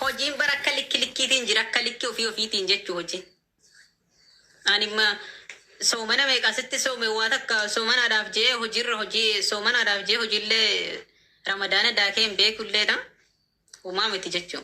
Hojiin bara akka likki likkiitiin jira akka likki ofii ofiitiin jechuu hojii. Animma soomana meeqa sitti soome waa takka soomanaadhaaf jee hojiirra hojii soomanaadhaaf jee hojiillee ramadaana daakee hin beekulleedha. Homaa miti jechuu.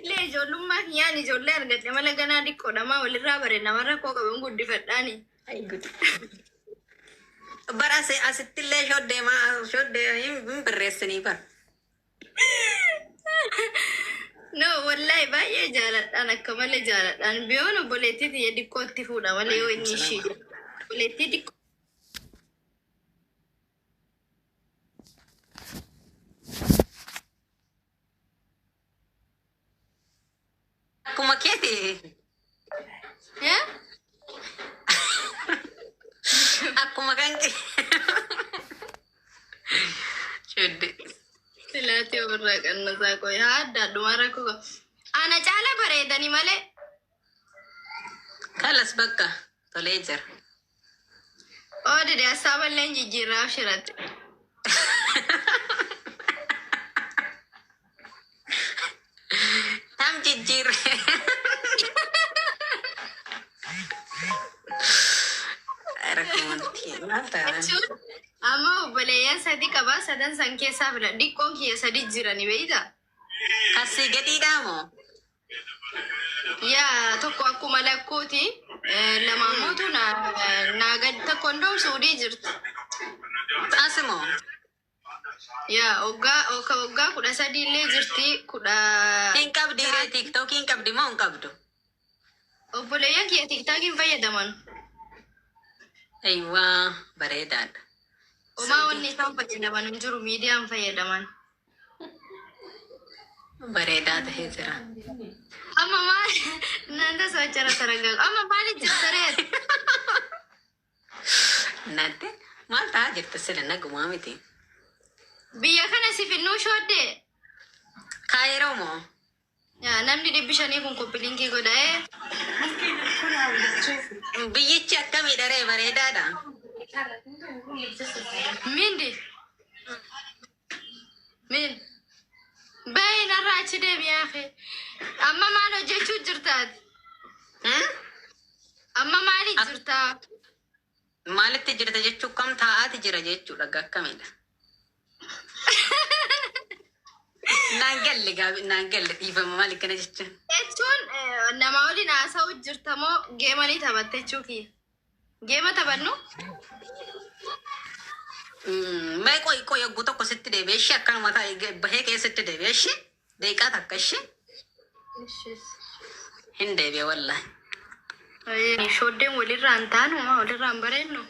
Anilee ijoollummaa kiyyaan ijoollee argadhe mala ganaa diqqoodha maa walirraa bare nama rakkoo qaban guddifadhaani. Ayi gud. Bara asi- asittillee shoddee maa shoddee hin hin barreessanii bara. No wallahi baay'ee jaaladhaan akka malee jaaladhaan biyoon obboleettii tiyya diqqootti fuudha malee yoo inni ishii jiru. Obboleettii diqqoo. Akkuma keeti. Eh? Akkuma kan kee. Shuddi. Silaatii ofirraa qannasaa qoy. Haa adda adduma rakkoo qaba. Ana caala bareedani malee. Kalas bakka tolee jira. Oo dide hassaaba illee hin jijjiirraa abshiratti. Tam jijjiirre. Rakkumanti maal taana? Jechuun amma obboleeyyan sadi qabaa sadan san keessaa filan dhiqqoon kiyya sadi jirani beeyta. Kasii gadiidhaa moo? yaa tokko akkuma lakkuuti lamaan mootu naa gad tokko hundoo suudii jirti Asimo. yaa oggaa oka oggaa kudha sadii illee jirti kudha Hin qabdi ree tiktookii hin qabdi moo hin qabdu? obboleeyyan kiyya tiktaakiin fayyadaman Eeywaa bareedaadha. omaa wanni isaan fayyadaman hin jiru miidiyaan fayyadaman bareedaa ta'ee jira. Amma maal naannoo sochara saragalu amma maal jirtaree Nadde maal ta'aa jirta sila nagumaa miti. biyya kana si finnuu shooddee Kaayiroo moo? Namni dhibbi shanii kun kopilinkii godha ee. Biyyichi akkamiidha ree bareedaadha? Mindi. Min. Bayi narraa achi deemi yaafe. Amma maal hojjechuu jirtaati? Amma maali jirtaa? Maalitti jirta jechuu kam taa'aati jira jechuudha ga akkamiidha. Naan galle gaabi naan galle dhiifama maal akkana jechuun. Jechuun eh, namaa waliin haasa'u jirta moo geema ni taphatte jechuu kiyya. Geema taphannu Mm, Mee qoy qoy yogguu tokko sitti deebi'e ishee akkanuma taa'e bahee keessatti deebi'e ishee. Deeqaa takka ishee Ishiis. hin deebi'e wallahi. Ayee, Shooddeen walirraa hin taanu maa walirraa hin bareednu.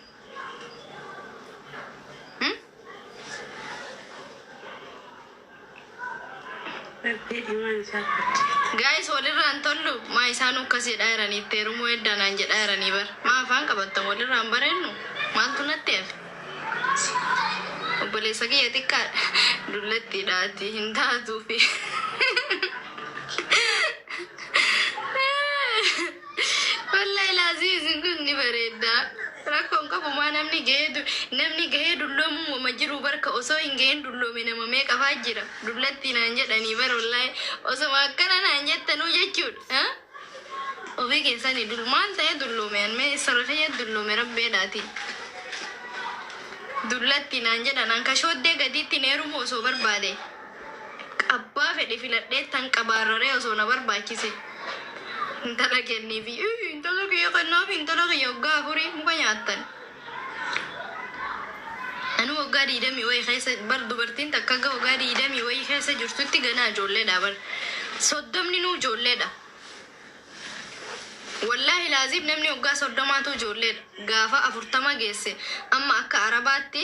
Hmm? Rabbii imaan isaa fudhate. Gaayis walirraa hin tollu maa isaan akkas jedhaa jiranii itti heerumuu heddaanaan jedhaa jiranii bar maa afaan qabattan walirraa hin bareednu maaltu natti hafe. Obboleessa kiyya xiqqaadha. Dullattiidha ati hin taatuufi. Wallahi laazii isin kun ni bareedda. Rakkoon qabu maa namni gahee du- namni gahee dulloomuu mama jiru barka osoo hin gahin dulloome nama meeqa faa jira. Dullattii naan jedhanii bara wallahi osoma akkana naan jettanuu jechuudha. Ofii keessani dul maal ta'ee dulloome an mee issarra kiyya dulloome rabbi edhaati dullatti naan jedhan an ka shooddee gadiittin heerumu osoo barbaade abbaa fedhe filadheettan qaba arraree osoo na barbaachise intala kenniifi intala kiyya kennaafi intala kiyya waggaa afurii muka nyaattan Anuu waggaa digdamii wayii keessa bar dubartiin takka hanga waggaa digdamii wayii keessa jirtutti ganaa ijoolleedha bar. Soddomni nuu ijoolleedha. Wallaahi laaziim namni waggaa soddomaatu ijoolleedha. Gaafa afurtama geesse amma akka arabaatti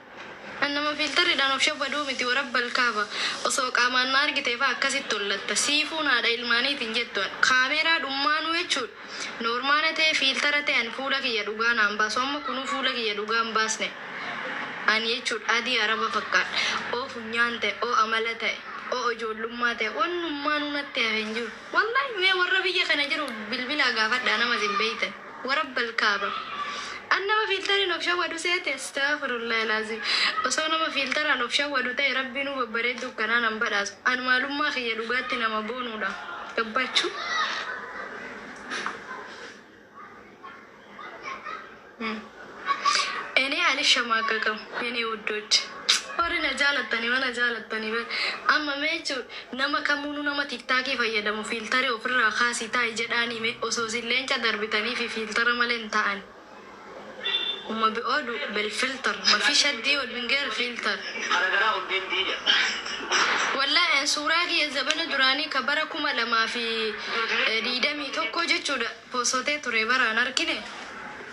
An nama fiiltarridhaan of shabbaduu miti warabbal kaaba. Osoo qaamaan na argitee faa akkasitti hollatta. Siifuun haadha ilmaaniiti hin jettu an. Kaameeraa dhummaanuu jechuudha. Noormaala ta'ee fiiltara ta'e an fuula kiyya dhugaa naan baasu. Amma kunuu fuula kiyya dhugaa hin baasne an jechuudha. Adii araba fakkaadha. O funyaan ta'e, o amala ta'e, o ijoollummaa ta'e wannummaanuu natti hafe hin jiru. Wallaahi mee warra biyya kana jiru bilbilaa gaafadhaa nama isin beektan. warabbal kaaba An nama fiiltariin of shawwadu seete Astagfirullahi laazim Osoo nama fiiltaraan of shawwadu ta'e rabbiinuu babbareedduu akkanaa nan badhaasu An maalummaa kiyya dhugaatti nama boonuudha Gabbachuu hmm. Enee alishamaagagam yenee wuddoch warri na jaalattani mana jaalattani bar amma mee jechu nama kamuunu nama tiktaakii fayyadamu fiiltari ofirraa kaasii taa'i jedhaani mee osoo isin leenca darbitaniifi fiiltara malee hin taa'ani Uma bi odu bel filter mafi shaddii odu hin ger filter Garagaraa hundeen diida. Wallahi an suuraa kiyya zabana duraanii ka bara kuma lamaa fi digdamii tokko jechuudha poosotee ture bara an arkine.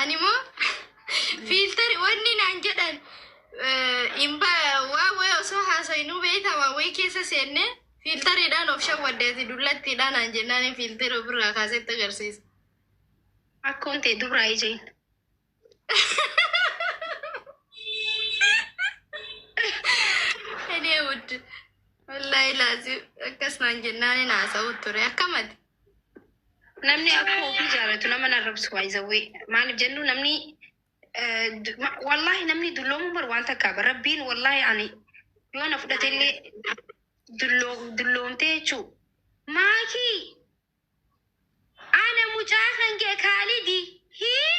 Ani moo fiiltari wanni naan jedhan eh, hin ba waa wayii osoo haasayinuu beektaa waa wayii keessa seenne fiiltariidhaan of shawwadde ati dullattiidhaan naan jennaan fiiltari ofirraa kaasetti agarsiisa. Akkoon tee dubraa ijeen. Ani wuddi wallaahi laazim akkas naan jennaan hin haasa'u ture akkamati. Namni akka ofii jaalatu nama hin arrabsu baay'isawwee. Maaliif jennu namni eh, du- ma- wallaahi namni dulloomuun bar waan takkaa bar rabbiin wallaahi ani yoo na fudhate illee dulloo dulloomtee jechuu maakii ana mucaa kan kee kaalidi hii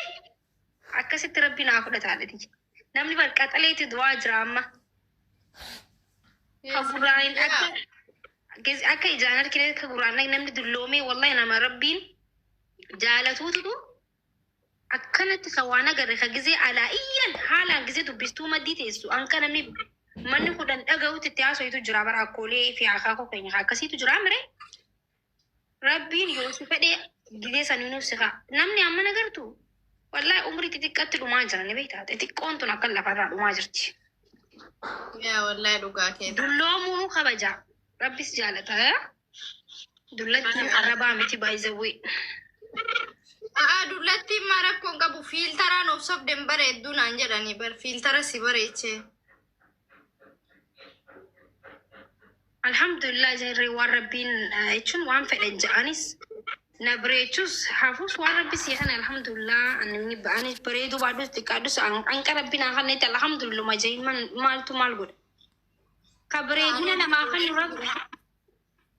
Akkasitti rabbi naa fudhata haadhati jee. Namni bar qaxaleeti du'aa jira amma. Ka gurraan hin akka gez- akka ijaan argine akka gurraan dhag- namni dulloomee wallahi nama rabbiin jaalatuutu akkanatti ka waan agarre ka gizee alaa iyyan haalaan gizee dubbistuu maddii teessu anka namni manni kudhan dhaga'utti itti haasoitu jira bara akkoolee fi akaakoo keenya akkasiitu jira mire. Rabbiin yoo si fedhe gizee san nuuf si kaa. Namni amma na gartu wallahi umrii xixiqqatti dhumaa jira ni beektaa xixiqqoon tun akka lafarraa dhumaa jirti. Yaa wallahi dhugaa keeti. Dulloomuunuu kabajaa rabbis jaalata. eh? Dullattiin arrabaa miti baay'izawwee. Aa dullattiin maa rakkoon qabu fiiltaraan of sobden bareedduu naan jedhanii bar fiiltara si bareechee. Alhamdulillah jarri waan rabbiin eh, jechuun waan fedhan ja'anis na bareechus hafuus waan rabbi sii kana alhamdulillah ani ani bareeduu baadhus xiqqaadhus an- anqa rabbi naa kana itti alhamdulillah majaa'in maaltu maal godha ka bareedina namaa kan rabbi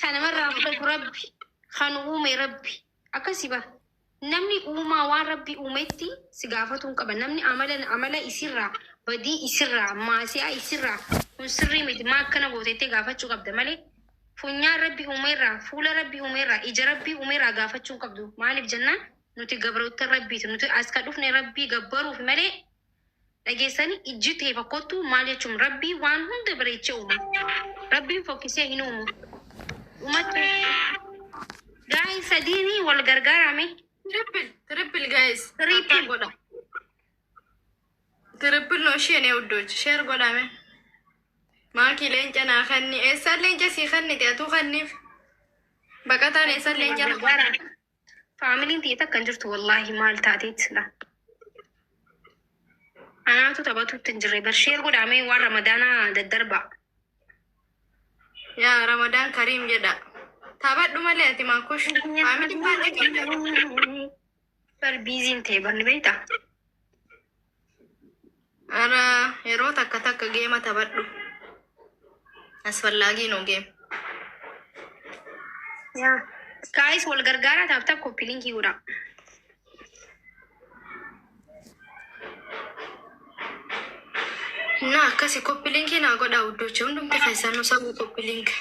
Kan namarraa fudhatu Rabbi. Kan uume Rabbi. Akkasi bar. Namni uumaa waan Rabbi uumetti si gaafatuun qaba. Namni amala amala isirraa, badii isirraa, maasiyaa isirraa kun sirrii miti maa akkana goote jettee gaafachuu qabda malee funyaan Rabbi uumeerraa, fuula Rabbi uumeerraa, ija Rabbi uumeerraa gaafachuu hin qabdu. Maaliif jennaan nuti gabroottan Rabbiiti. Nuti as ka dhufne Rabbii gabbaruuf malee Dhageessani ijji tee fakkottu maal jechuum rabbii waan hunda bareeche uuma rabbiin fokkisee hin uumu umatti guys sadiini wal gargaaraa mee Triple, triple guys. Tap tap Triple. godha. Triple no ishee ne uddochi. Share godha me. Maaki leenca naa kanni. Eessaan leenca sii kannite atuu kanniif. Baqataan eessaan leenca naa gargaaraa Faamiliin tiyya takka hin jirtu wallaahi maal taateet sila. Anaatu taphatuutti hin jirre bar sheer godhaamee waan ramadaanaa daddarbaa. Yaa Ramadaan Kariim jedha. Taphadhu malee ati maa kush. Faamiliin baay'ee qabda. Bar biiziin ta'e banni beektaa? Ara yeroo takka takka geema taphadhu. Asfallaagii noo geem. Yaa. Kaayis wal gargaaraa taaf taaf koppi linkii godhaa. Na akkasi koppi linkii naa godhaa huddocha hundumti keessan nu sabuu koppi linkii.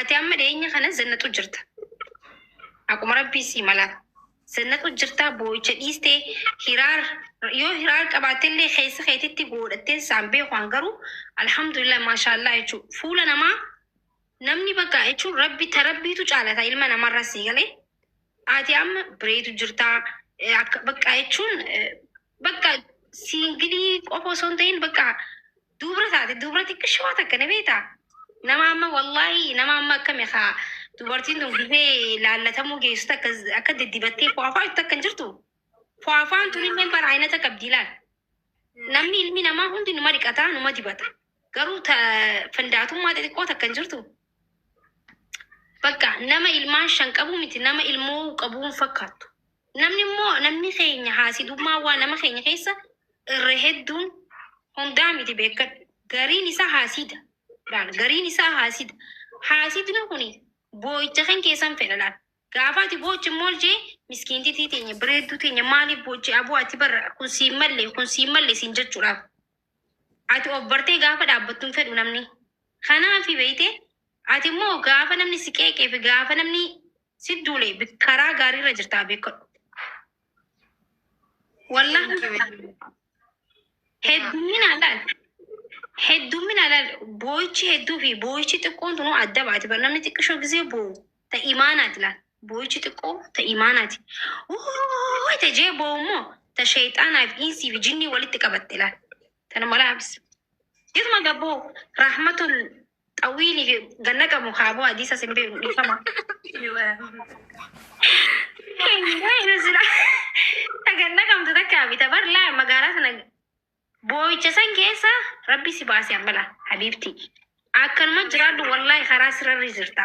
Ati amma dhiyeenya kana zannatu jirta. Akkuma rabbii sii mala. Zannatu jirta boo'icha dhiiste hiraar yoo hiraar qabaatte illee keessa keetitti goodhattee saan beekuan garuu alhamdulillah maashaallaa jechuun fuula namaa namni bakka jechuun rabbi ta rabbiitu caalata ilma namarra sii galee ati amma bireetu jirta eh, akka bakka jechuun eh, bakka siingilii qofa osoo hin ta'in bakka Dubra taate dubra xiqqishoo takka ni beektaa? Nama amma wallaahi nama amma akkami haa dubartiin tun gizee laallatamuu geessu takka akka diddibattee fo'afaa jirtu takka hin jirtu. Fo'afaan tun illee bara aynata qabdi ilaal. Namni ilmi namaa hundi numa dhiqata numa dibata. Garuu ta fandaatummaa xixiqqoo takka hin jirtu. Bakka nama ilmaan shan qabu miti nama ilmoo qabuun fakkaattu. Namni immoo namni keenya haasidummaa waan nama keenya keessa irra hedduun hundaa miti beekkadhu gariin isaa haasida laal gariin isaa haasida haasidni kuni boo'icha kan keessan fedha laal gaafa ati boochi mool jee miskiintitii teenya bareedduu teenya maaliif boochi aboo ati barra kun siin malle kun siin malle siin jechuudhaaf ati of bartee gaafa dhaabbattu hin fedhu namni kanaafi beeyte ati immoo gaafa namni si qeeqee fi gaafa namni Sit duule bi- karaa gaariirra jirtaa beekadhu. Wallah Thank you. heddumminaa laal. Heddumminaa laal. Booyichi hedduu fi booyichi xiqqoon tunuu adda baati. Bar namni xiqqishoo gisee boowu ta imaanaati laal. Booyichi xiqqoo ta imaanaati. Wuu ta jee boowu immoo ta sheexaanaa fi insii fi jinnii walitti qabatte laal. Tana mala habis. Jirma gabboo rahmatul Xawiini fi ganna qabu kaaboo hadiisa sin beeku dhiifama. Ganna qabdu takka bita bar laa magaalaa sana boo'icha san keessa rabbi si baase ammala habiibti. Akkanuma jiraadhu wallaahi karaa sirarri jirta.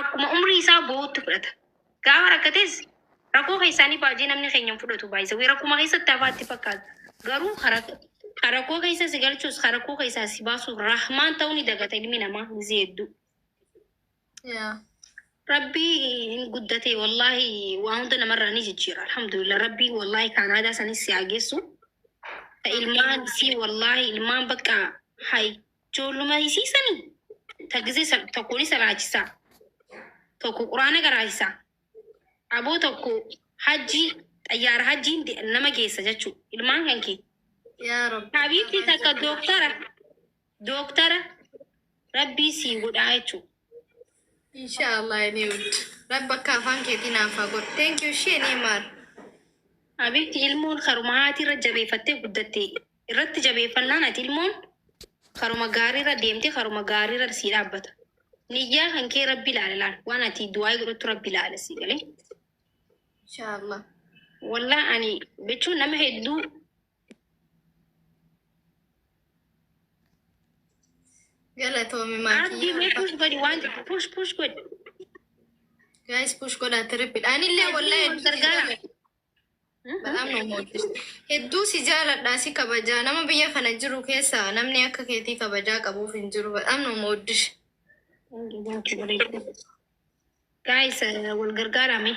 akkuma umrii isaa go'uutti fudhata. Gaafa rakkates rakoo keessaanii baajii namni keenya hin fudhatu by the way rakkuma keessatti hafaa itti fakkaata garuu ka rak ka rakoo keessa si galchuus ka rakkoo keessaa si baasuus rahmaan ta'uu ni dagata ilmi namaa gizee hedduu. Yeah. Rabbii hin guddate wallaahi waa hunda namarraa ni jijjiira alhamdulillah rabbii wallaahi kaanaadaa sanis si haa geessu. Ka ilmaan si wallaahi ilmaan bakka hay Ijoolluma isii sani ta gizee sa- tokko ni salaachisaa tokko quraana garaachisaa aboo tokko hajjii xayyaara hajjiin de- nama geessa jechuu ilmaan kan kee Yaa Rabbi. habiibtii takka dooktara dooktara rabbii sii godhaa jechuu Inshallah ini ud. Rabbi akka afaan keetii naaf haa godhu. Thank you ishee ni maar. Habiibti ilmoon karuma haati irra jabeeffattee guddatte irratti jabeeffannaan ati ilmoon karuma gaariirra deemte karuma gaariirra sii dhaabbata. Niyyaa kan kee rabbi ilaala laal waan ati du'aa godhattu rabbi ilaala sii galee. Inshallah. Wallah ani jechuun nama hedduu Galatoomi Abdi mee maatii. push godhi waan tokko push push godhi. Guys push godhaa tirippidha. Anillee wallahi Wal hedduu si gargaara. jaalladha. Balaam nu mootis. Hedduu si jaaladha si kabajaa. Nama biyya kana jiru keessa namni akka keetii kabajaa qabuuf hin jiru. Balaam nu mootis. Guys wal gargaara mee.